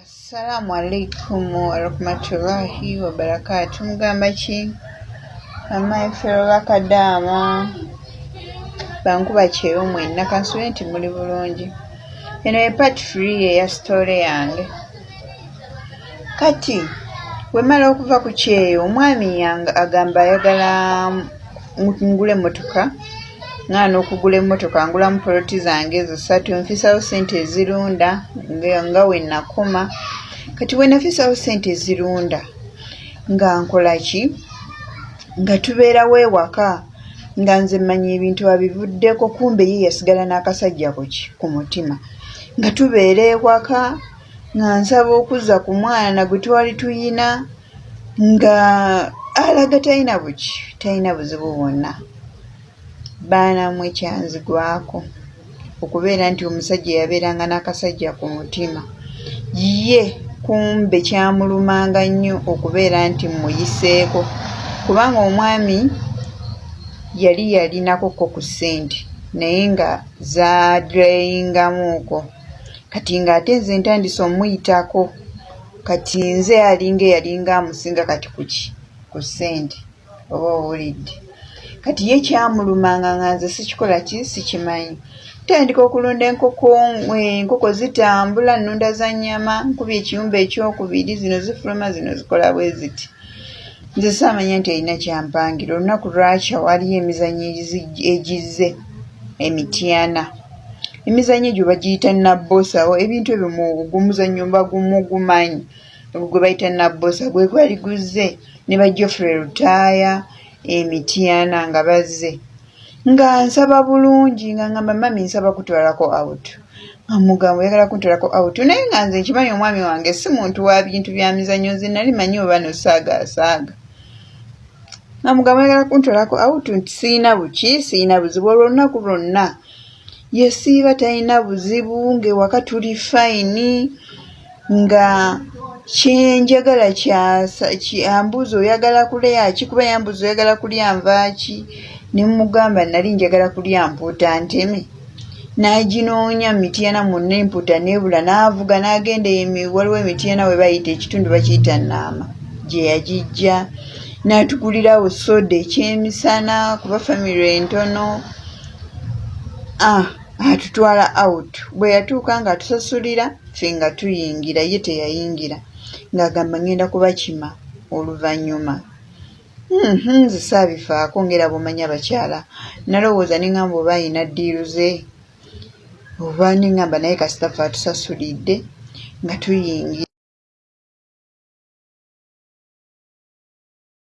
Assalamu alaikum warahmatullahi wabarakatu mugamba ki amayi fero bakadaama bankuba kyeyo mwenna kansube nti muli bulungi eno ye part free eya sitole yange kati wemala okuva ku kyeyo omwami agamba ayagala ngula emmotoka nga n'okugula emmotoka ngulamu poloti zange ezo ssatu nfisawo ssente ezirunda nga we nakoma kati we nafisawo ssente ezirunda nga nkola ki nga tubeerawo ewaka nga nze mmanya ebintu abivuddeko kumbe ye yasigala n'akasajja kuki ku mutima nga tubeera ewaka nga nsaba okuzza ku mwana gwe twali tuyina nga alaga talina buki talina buzibu bwonna baanamwe ekyanzigwako okubeera nti omusajja yabeeranga n'akasajja ku mutima ye kumbe kyamulumanga nnyo okubeera nti muyiseeko kubanga omwami yali yalinako ko ku ssente naye nga zaadreyingamuuko kati ng'ate nze ntandise omuyitako kati nze alinga eyalinga amusinga kati kuki ku sente oba owulidde kati ye kyamulumanga nga nze sikikola ki sikimanyi tandika okulunda enkoko enkoko zitambula nunda za nyama nkuba ekiyumba ekyokubiri zino zifuluma zino zikola bwe ziti nze saamanya nti erina kyampangira olunaku lwakya waliyo emizanyo egizze emityana Emizannyo egyo bagiyita nabbosawo, ebintu ebyo mu gumuzannyo mba mugumanyi ogwo gwe bayita nabbosa gwe gwali guzze ne ba Geoffrey Lutaaya e Mityana nga bazze nga nsaba bulungi nga ngamba mami nsaba kutwalako out nga mugambo oyagala kuntwalako out naye nga nze nkimanyi omwami wange si muntu wa bintu bya mizannyo nze nali manyi oba no saaga asaaga nga mugambo oyagala kuntwalako out nti siyina buki siyina buzibu olwo olunaku lwonna yesiiba talina buzibu ng'ewaka tuli fayini nga kyenjagala kyambuuza oyagala kulya ki kuba yambuuza oyagala kulya nvaaki ne mugamba nali njagala kulya mpuuta nteme n'aginoonya mu mityana munna empuuta neebula n'avuga n'agenda waliwo emityana we bayita ekitundu bakiyita nnaama gye yagijja n'atugulirawo soda ekyemisana kuba famire entono ah, atutwala out bwe yatuuka ng'atusasulira ffe nga tuyingira ye teyayingira ng'agamba ngenda kubakima oluvannyuma hmm, hmm, nze saabifaako ng'era bw'omanyi abakyala nalowooza ne ngamba oba ayina ddiiru ze oba ne ngamba naye kasita fe atusasulidde nga tuyingira